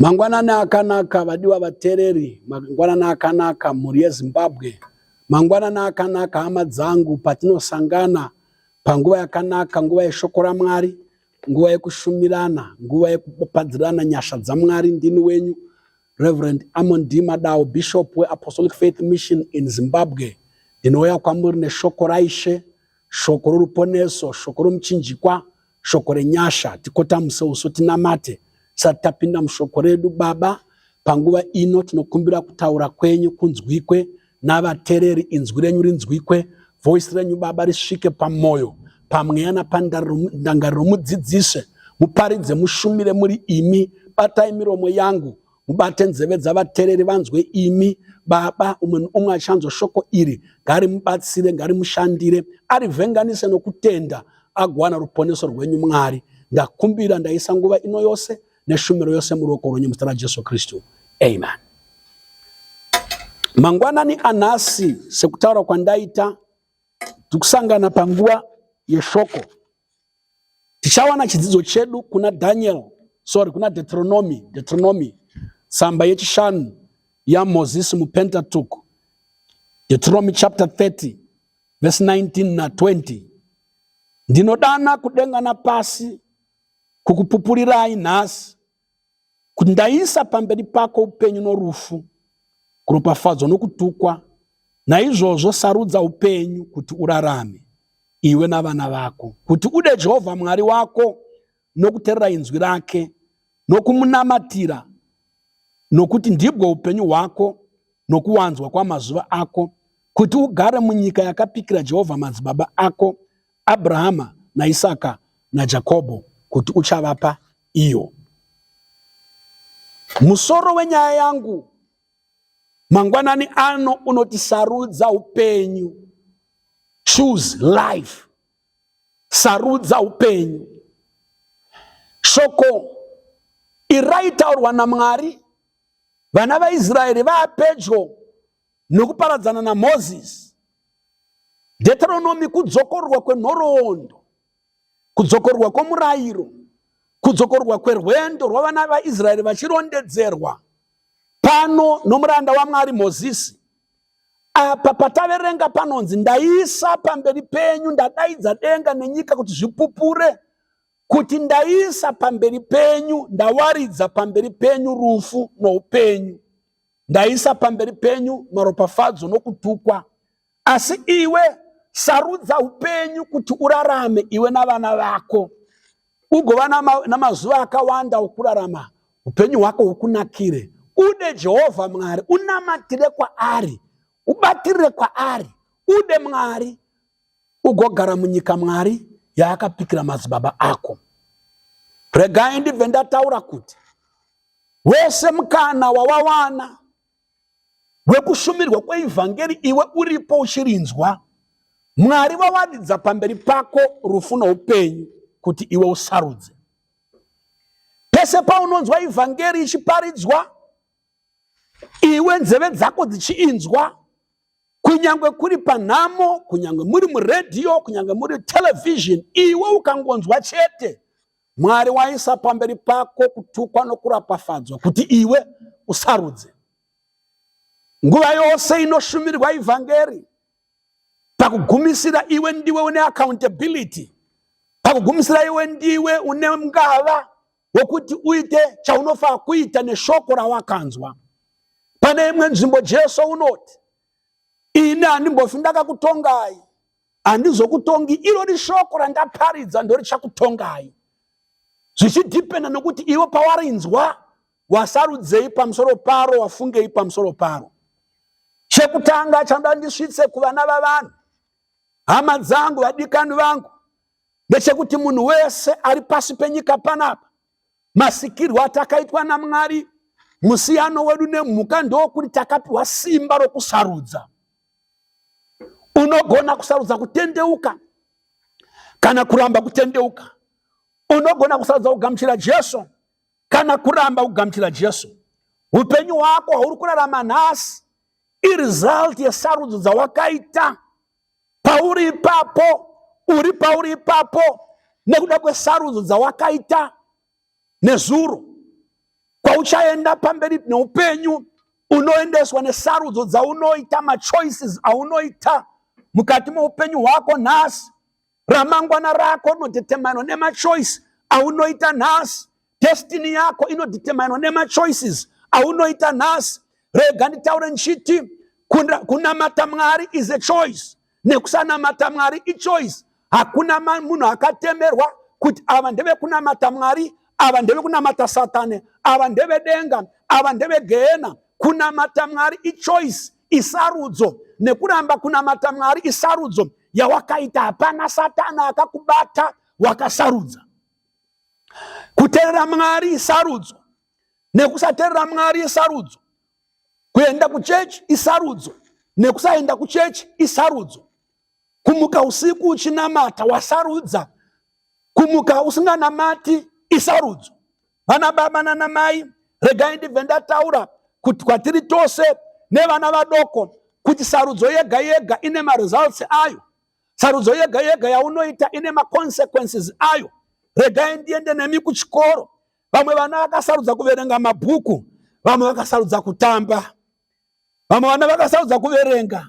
Mangwanani akanaka vadiwa vatereri, mangwanani akanaka mhuri yeZimbabwe, mangwanani akanaka hama dzangu patinosangana panguva yakanaka, nguva yeshoko raMwari, nguva yekushumirana, nguva yekupadzirana nyasha dzaMwari. Ndini wenyu Reverend Amon D Madao, Bishop weApostolic Faith Mission in Zimbabwe. Ndinouya kwamuri neshoko raIshe, shoko roruponeso, shoko romuchinjikwa shoko renyasha tikotamuse uso tinamate tisati tapinda mushoko redu baba panguva ino tinokumbira kutaura kwenyu kunzwikwe navatereri inzwi renyu rinzwikwe voisi renyu baba risvike pamwoyo pamweya napandangariro mudzidzise muparidze mushumire muri imi batai miromo yangu mubate nzeve dzavatereri vanzwe imi baba umwe neumwe achanzwa shoko iri ngarimubatsire ngarimushandire arivhenganise nokutenda agowana ruponeso rwenyu mwari ndakumbira ndaisa nguva ino yose neshumiro yose muruoko rwenyu muzita rajesu kristu amen mangwanani anhasi sekutaura kwandaita tikusangana panguva yeshoko Tichawana chidzidzo chedu kuna Daniel, sorry, kuna Deuteronomy, Deuteronomy tsamba yechishanu yaMoses muPentateuch, Deuteronomy chapter 30 verse 19 na 20. Ndinodana kudenga napasi kukupupulirai nhasi kuti ndaisa pamberi pako upenyu norufu kuropafadzwa nokutukwa naizvozvo sarudza upenyu kuti urarame iwe navana vako kuti ude jehovha mwari wako nokuterera inzwi rake nokumunamatira nokuti ndibwo upenyu hwako nokuwanzwa kwamazuva ako kuti ugare munyika yakapikira jehovha madzibaba ako abrahama naisaka najakobho kuti uchavapa iyo. Musoro wenyaya yangu mangwanani ano unoti sarudza upenyu, choose life, sarudza upenyu. Shoko iri raitaurwa naMwari vana vaIsraeri vaapedyo nokuparadzana naMozisi. Deuteronomy kudzokororwa kwenhoroondo Kudzokorwa kwomurayiro, kudzokorwa kwerwendo rwavana vaIsraeri vachirondedzerwa pano nomuranda waMwari Mozisi. Apa pataverenga panonzi, Ndaisa pamberi penyu, ndadaidza denga nenyika kuti zvipupure, kuti ndaisa pamberi penyu, ndawaridza pamberi penyu rufu noupenyu, ndaisa pamberi penyu maropafadzo nokutukwa. Asi iwe sarudza upenyu kuti urarame iwe navana vako ugova namazuva akawanda okurarama upenyu hwako hukunakire ude jehovha mwari unamatire kwaari ubatirire kwaari ude mwari ugogara munyika mwari yaakapikira madzibaba ako regai ndibve ndataura kuti wese mukana wawawana hwekushumirwa kweivhangeri iwe uripo uchirinzwa mwari vawaridza pamberi pako rufu noupenyu kuti iwe usarudze pese paunonzwa ivhangeri ichiparidzwa iwe nzeve dzako dzichiinzwa kunyange kuri panhamo kunyange muri muredhiyo kunyange muri televhizheni iwe ukangonzwa chete Mwari waisa pamberi pako kutukwa nokurapafadzwa kuti iwe usarudze. Nguva yose inoshumirwa ivhangeri pakugumisira iwe ndiwe une accountability pakugumisira iwe ndiwe une ngava wokuti uite chaunofa kuita neshoko rawakanzwa pane imwe nzvimbo jesu unoti ini handimbofi ndakakutongai handizokutongi irori shoko randaparidza ndorichakutongai zvichidhipenda nokuti ivo pawarinzwa wasarudzei pamusoro paro wafungei pamusoro paro chekutanga chanoda ndisvitse kuvana vavanhu hama dzangu vadikani vangu ndechekuti munhu wese ari pasi penyika panapa Masikirwo atakaitwa naMwari, musiyano wedu nemhuka ndowokuti takapiwa simba rokusarudza. Unogona kusarudza kutendeuka kana kuramba kutendeuka. Unogona kusarudza kugamuchira Jesu kana kuramba kugamuchira Jesu. Upenyu hwako hwauri kurarama nhasi irizalti yesarudzo dzawakaita. pauri ipapo uri pauri ipapo nekuda kwesarudzo dzawakaita nezuro kwauchaenda pamberi neupenyu unoendeswa nesarudzo dzaunoita machoices aunoita mukati meupenyu hwako nhasi Ramangwana rako rinodeterminwa nemachoice aunoita nhasi. Destiny yako inodeterminwa nemachoices aunoita nhasi. Rega nditaure ndichiti kunamata Mwari is a choice nekusanamata Mwari ichoice. Hakuna munhu akatemerwa kuti ava ndevekunamata Mwari, ava ndevekunamata Satani, ava ndevedenga, ava ndevegehena. Kunamata Mwari ichoice isarudzo nekuramba kunamata mwari isarudzo yawakaita hapana satana akakubata wakasarudza kuteerera mwari isarudzo nekusateerera mwari isarudzo kuenda kuchechi isarudzo nekusaenda kuchechi isarudzo kumuka usiku uchinamata wasarudza kumuka usinganamati isarudzo vana baba nana mai regai ndibve ndataura kuti kwatiri tose nevana vadoko kuti sarudzo yega yega ine maresults ayo sarudzo yega yega yaunoita ine maconsequences ayo regai ndiende nemi kuchikoro vamwe vana vakasarudza kuverenga mabhuku vamwe vakasarudza kutamba vamwe vana vakasarudza kuverenga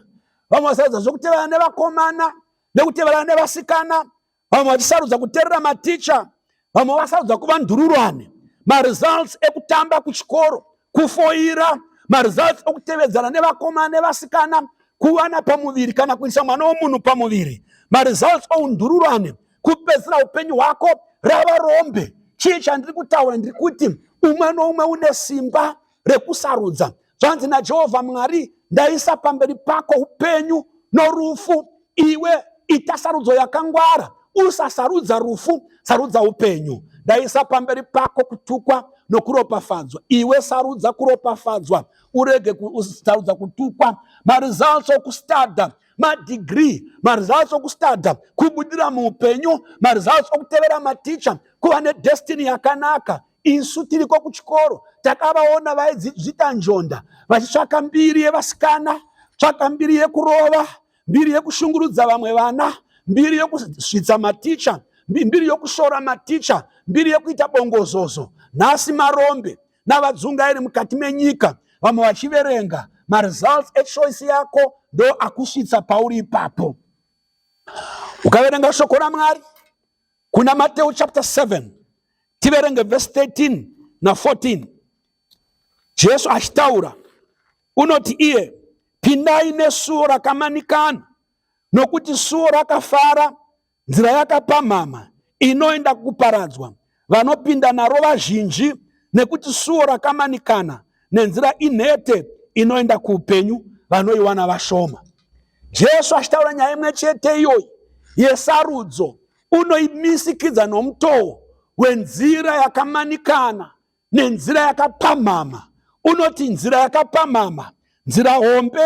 vamwe vasarudza zvekuteverana nevakomana nekuteverana nevasikana vamwe vachisarudza kuterera maticha vamwe vasarudza kuva ndururani maresults ekutamba kuchikoro kufoira maresults okutevedzana nevakomana nevasikana kuvana pamuviri kana kuisa mwana womunhu pamuviri maresults oundururani kupedzisira upenyu hwako rava rombe chii chandiri kutaura ndiri kuti umwe noumwe une simba rekusarudza zvanzi najehovha mwari ndaisa pamberi pako upenyu norufu iwe ita sarudzo yakangwara usasarudza rufu sarudza upenyu ndaisa pamberi pako kutukwa nokuropafadzwa iwe sarudza kuropafadzwa urege kusarudza kutukwa maresults okustada madegree maresults okustada kubudira muupenyu maresults okutevera maticha kuva nedestiny yakanaka isu tiriko kuchikoro takavaona vaidzita njonda vachitsvaka mbiri yevasikana tsvaka mbiri yekurova mbiri yekushungurudza vamwe vana mbiri yekusvitsa maticha mbiri yokushora maticha mbiri yekuita bongozozo nhasi marombe navadzungairi mukati menyika vamwe vachiverenga maresults echoice yako ndo akusvitsa pauri ipapo ukaverenga shoko ramwari kuna Mateo chapter 7 tiverenge verse 13 na 14 Jesu achitaura unoti iye pindai nesuo rakamanikana nokuti suo rakafara nzira yakapamhama inoenda kuparadzwa vanopinda naro vazhinji nekuti suo rakamanikana nenzira inhete inoenda kuupenyu vanoiwana vashoma. Jesu achitaura nyaya imwe chete iyoyi yesarudzo unoimisikidza nomutoo wenzira yakamanikana nenzira yakapamhama. Unoti nzira yakapamhama, nzira hombe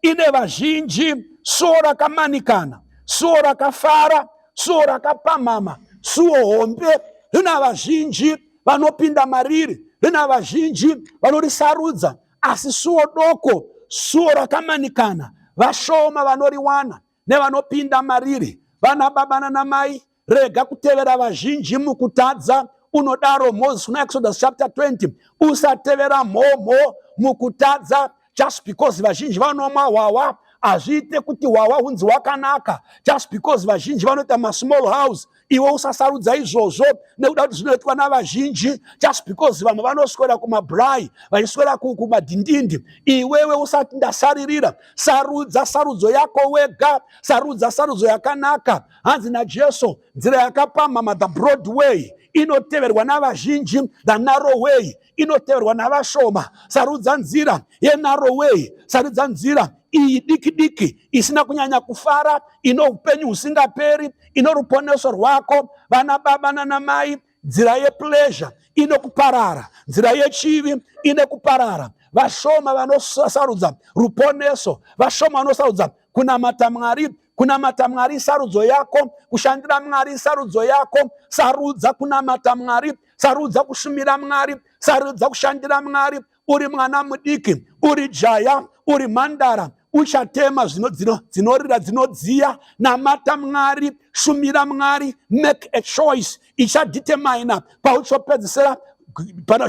ine vazhinji, suo rakamanikana, suo rakafara, suo rakapamhama, suo hombe rina vazhinji vanopinda mariri rina vazhinji vanorisarudza asi suo doko suo rakamanikana vashoma vanoriwana nevanopinda mariri vana baba nana mai rega kutevera vazhinji mukutadza unodaro moses kuna exodus chapter 20 usatevera mhomho mukutadza just because vazhinji vanomwa hwahwa hazviite kuti hwahwa hunzi wakanaka just because vazhinji vanoita masmall house iwe usasarudza izvozvo nekuda kuti zvinoitwa navazhinji just because vamwe vanoswera kumabrai vachiswera kumadhindindi iwewe usati ndasaririra sarudza sarudzo yako wega sarudza sarudzo yakanaka hanzi najesu nzira yakapamhama the broad way inoteverwa navazhinji the narrow way inoteverwa navashoma sarudza nzira yenarowei sarudza nzira iyi diki diki isina kunyanya kufara ino upenyu husingaperi ino ruponeso rwako vana baba nanamai nzira yepleasure ine kuparara nzira yechivi ine kuparara vashoma vanosarudza ruponeso vashoma vanosarudza kunamata mwari Kunamata Mwari isarudzo yako, kushandira Mwari isarudzo yako. Sarudza kunamata Mwari, sarudza kushumira Mwari, sarudza kushandira Mwari. Uri mwana mudiki, uri jaya, uri mhandara, uchatema zvino dzino dzinorira dzinodziya namata mwari shumira mwari make a choice ichadetermina pauchopedzisira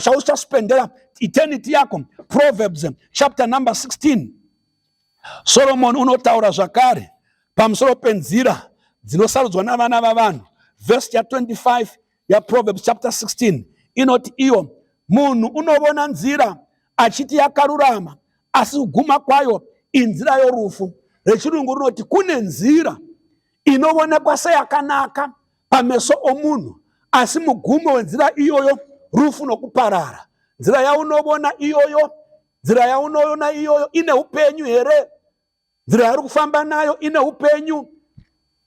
chauchaspendera eternity yako proverbs chapter number 16 Soromoni unotaura zvakare pamusoro penzira dzinosarudzwa navana vavanhu. Vhesi ya 25 yaProverbs chapter 16 inoti iyo munhu unovona nzira achiti yakarurama asi kuguma kwayo inzira yorufu rechirungu rinoti kune nzira inoonekwa seyakanaka pameso omunhu asi mugumo wenzira iyoyo rufu nokuparara nzira yaunovona iyoyo nzira yaunoona iyoyo ine upenyu here nzira yauri kufamba nayo ine upenyu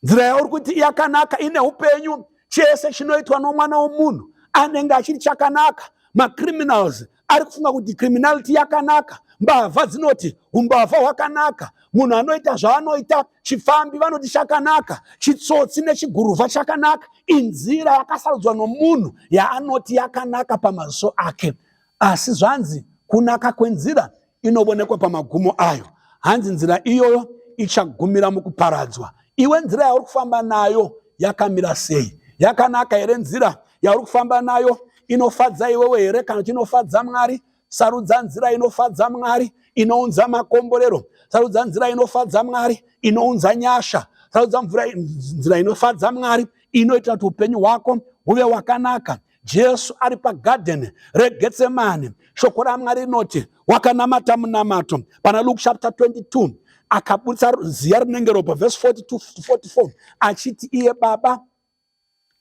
nzira yauri kuti yakanaka ine upenyu chese chinoitwa nomwana womunhu anenge achiri chakanaka macriminals ari kufunga kuti criminality yakanaka mbavha dzinoti umbavha hwakanaka munhu anoita zvaanoita chifambi vanoti chakanaka chitsotsi nechiguruvha chakanaka inzira yakasarudzwa nomunhu yaanoti yakanaka pamaziso ake Asi zvanzi kunaka kwenzira inovonekwa pamagumo ayo. Hanzi nzira iyoyo ichagumira mukuparadzwa. Iwe nzira yauri kufamba nayo yakamira sei? Yakanaka here nzira yauri kufamba nayo? Inofadza iwewe here kana kuti inofadza Mwari? Sarudza nzira inofadza Mwari inounza makomborero. Sarudza nzira inofadza Mwari inounza nyasha. Sarudza nzira inofadza Mwari inoita kuti upenyu hwako huve wakanaka. jesu ari pagadheni regetsemani shoko ramwari rinoti wakanamata munamato pana luke chapter 22 akaburitsa ziya rinenge ropa vhesi 4244 achiti iye baba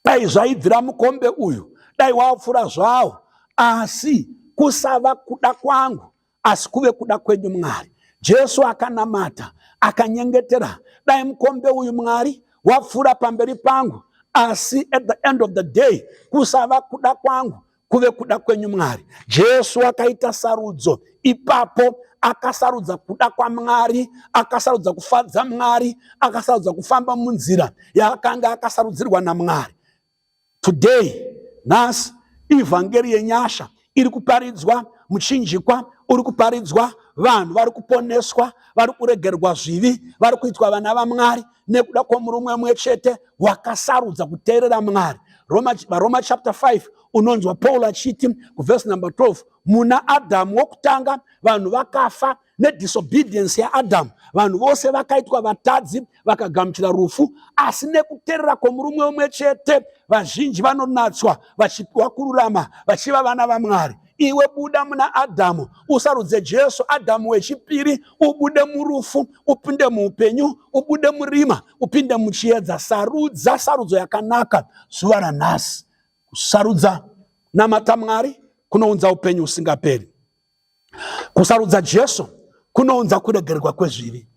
dai zvaibvira mukombe uyu dai wapfura zvawo asi kusava kuda kwangu asi kuve kuda kwenyu Mwari. Jesu akanamata akanyengetera, dai mukombe uyu Mwari wapfuura pamberi pangu, asi at the end of the day kusava kuda kwangu kuve kuda kwenyu Mwari. Jesu akaita sarudzo ipapo akasarudza kuda kwamwari akasarudza kufadza mwari akasarudza kufamba munzira yaakanga akasarudzirwa namwari Today, nhasi, ivhangeri yenyasha iri kuparidzwa, muchinjikwa uri kuparidzwa, vanhu vari kuponeswa, vari kuregerwa zvivi, vari kuitwa vana vaMwari nekuda kwomurume umwe chete wakasarudza kuteerera Mwari. Roma, Roma chapter 5 unonzwa Paul achiti kuvhesi number 12 muna Adhamu wokutanga vanhu vakafa nedisobedience yaadhamu vanhu vose vakaitwa vatadzi vakagamuchira rufu asi nekuterera kwomurume umwe chete vazhinji vanonatswa vachipiwa kururama vachiva vana vamwari iwe buda muna adhamu usarudze jesu adhamu wechipiri ubude murufu upinde muupenyu ubude murima upinde muchiedza sarudza sarudzo yakanaka zuva ranhasi kusarudza namata mwari kunounza upenyu usingaperi Kusarudza Jesu kunounza kuregererwa kwezvivi.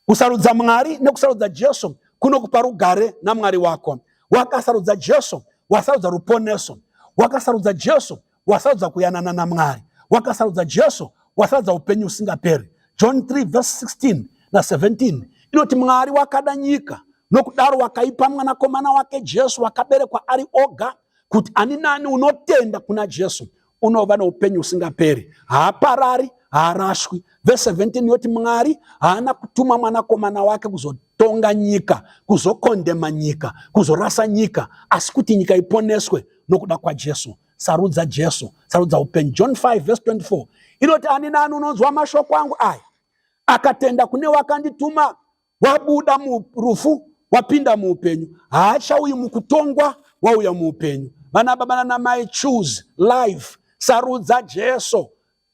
Kusarudza Mwari nekusarudza Jesu kunokupa rugare naMwari wako. Wakasarudza Jesu, wasarudza ruponeso. Wakasarudza Jesu, wasarudza kuyanana naMwari. Wakasarudza Jesu, wasarudza upenyu usingaperi. John 3 verse 16 na 17 inoti Mwari wakada nyika nokudaro wakaipa mwanakomana wake Jesu wakaberekwa ari oga kuti ani nani unotenda kuna Jesu unova noupenyu husingaperi haaparari haarashwi vese 17 yoti mwari haana kutuma mwanakomana wake kuzotonga nyika kuzokondema nyika kuzorasa nyika asi kuti nyika iponeswe nokuda kwajesu sarudza jesu sarudza upenyu john 5 vese 24 inoti ani nani unonzwa mashoko angu aya akatenda kune wakandituma wabuda murufu wapinda muupenyu haachauyi mukutongwa wauya muupenyu vana baba nanamai choose life sarudza jesu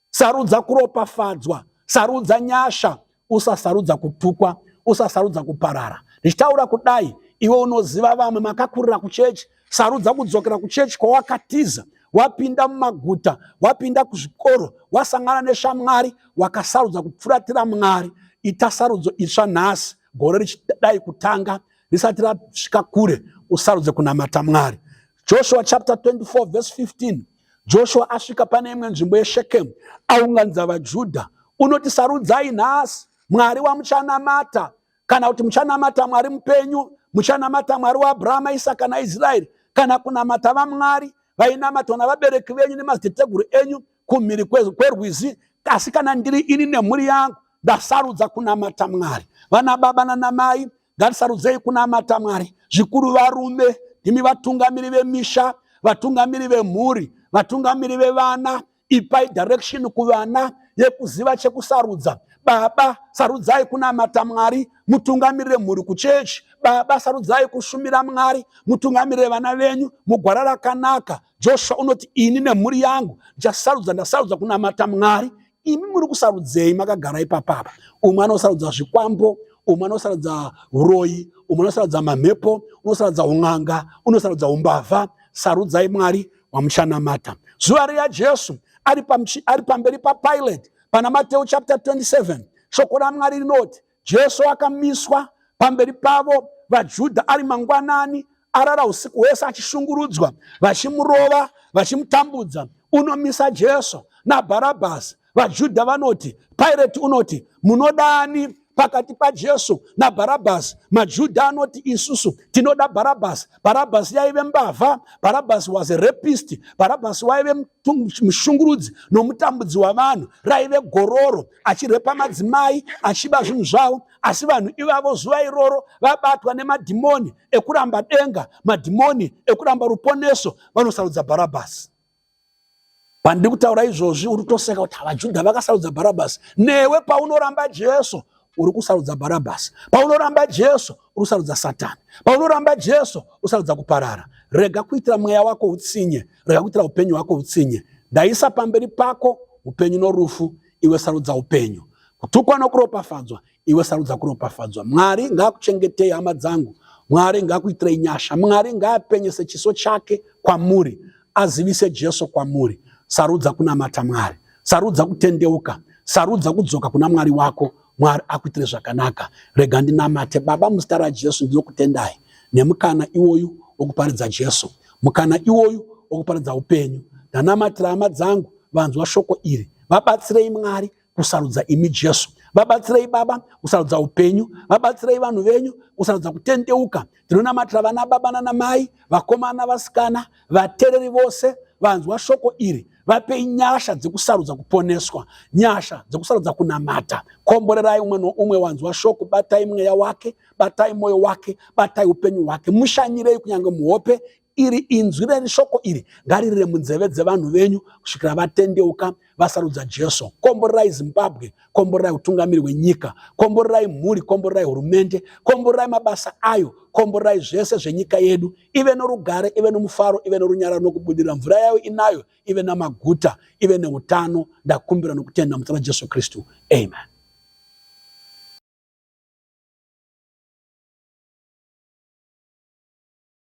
sarudza kuropafadzwa sarudza nyasha usasarudza kutukwa usasarudza kuparara ndichitaura kudai iwe unoziva vamwe makakurira kuchechi Sarudza kudzokera kuchechi kwawakatiza wapinda mumaguta wapinda kuzvikoro wasangana neshamwari wakasarudza kupfuratira mwari ita sarudzo itsva nhasi gore richidai kutanga risati rasvika kure usarudze kunamata mwari joshua chapter 24 verse 15 joshua asvika pane imwe nzvimbo yeshekemu aunganidza vajudha unoti sarudzai nhasi mwari wamuchanamata kana kuti muchanamata mwari mupenyu muchanamata mwari waabrahama isaka naisraeri kana kunamata vamwari vainamatwa navabereki venyu nemadziteteguru enyu kumhiri kwerwizi asi kana ndiri ini nemhuri yangu ndasarudza kunamata mwari vana baba nanamai ngatisarudzei kunamata mwari zvikuru varume imi vatungamiri vemisha vatungamiri vemhuri vatungamiri vevana ipai direction kuvana yekuziva chekusarudza baba sarudzai kunamata mwari mutungamirire mhuri kuchechi baba sarudzai kushumira mwari mutungamirire vana venyu mugwara rakanaka joshua unoti ini nemhuri yangu ndichasarudza ndasarudza kunamata mwari imi muri kusarudzei makagara ipapapa umwe anosarudza zvikwambo umwe anosarudza uroyi umwe anosarudza mamhepo unosarudza un'anga unosarudza umbavha sarudzai mwari wamuchanamata zuva riya jesu ari pamberi papilate pana mateu chapter 27 shoko ramwari rinoti jesu akamiswa pamberi pavo vajudha ari mangwanani arara usiku hwese achishungurudzwa vachimurova vachimutambudza unomisa jesu nabharabhasi VaJudha vanoti, Pirate unoti, munoda ani pakati paJesu naBharabhasi? MaJudha anoti, isusu tinoda Bharabhasi. Bharabhasi yaive mbavha. Bharabhasi was a rapist. Bharabhasi waive mushungurudzi nomutambudzi wavanhu. Raive gororo, achirepa madzimai, achiba zvinhu zvavo. Asi vanhu ivavo zuva iroro vabatwa nemadhimoni ekuramba denga, madhimoni ekuramba ruponeso, vanosarudza Bharabhasi. pandiri kutaura izvozvi uri kutoseka kuti vajudha vakasarudza bharabhasi newe paunoramba jesu uri kusarudza bharabhasi paunoramba jesu uri kusarudza satani paunoramba jesu usarudza kuparara rega kuitira mweya wako utsinye rega kuitira upenyu hwako utsinye ndaisa pamberi pako upenyu norufu iwe sarudza upenyu kutukwa nokuropafadzwa iwe sarudza kuropafadzwa mwari ngaakuchengetei hama dzangu mwari ngaakuitirei nyasha mwari ngaapenyese chiso chake kwamuri azivise jesu kwamuri sarudza kunamata mwari sarudza kutendeuka sarudza kudzoka kuna mwari wako mwari akuitire zvakanaka rega ndinamate baba muzita rajesu ndinokutendai nemukana iwoyu wokuparidza jesu mukana iwoyu wokuparidza upenyu ndanamatira hama dzangu vanzwa shoko iri vabatsirei mwari kusarudza imi jesu vabatsirei baba kusarudza upenyu vabatsirei vanhu venyu kusarudza kutendeuka tinonamatira vana baba nanamai vakomana vasikana vatereri vose vanzwa shoko iri vapei nyasha dzekusarudza kuponeswa nyasha dzekusarudza kunamata komborerai umwe noumwe wanzwa shoko batai mweya wake batai mwoyo wake batai upenyu hwake mushanyirei kunyange muhope iri inzwi reni shoko iri ngaririre munzeve dzevanhu venyu kusvikira vatendeuka vasarudza jesu komborerai zimbabwe komborerai utungamiri hwenyika komborerai mhuri komborerai hurumende komborerai mabasa ayo komborerai zvese zvenyika yedu ive norugare ive nomufaro ive norunyararo nokubudirira mvura yayo inayo ive namaguta ive neutano ndakumbira nokutenda muzita rajesu kristu amen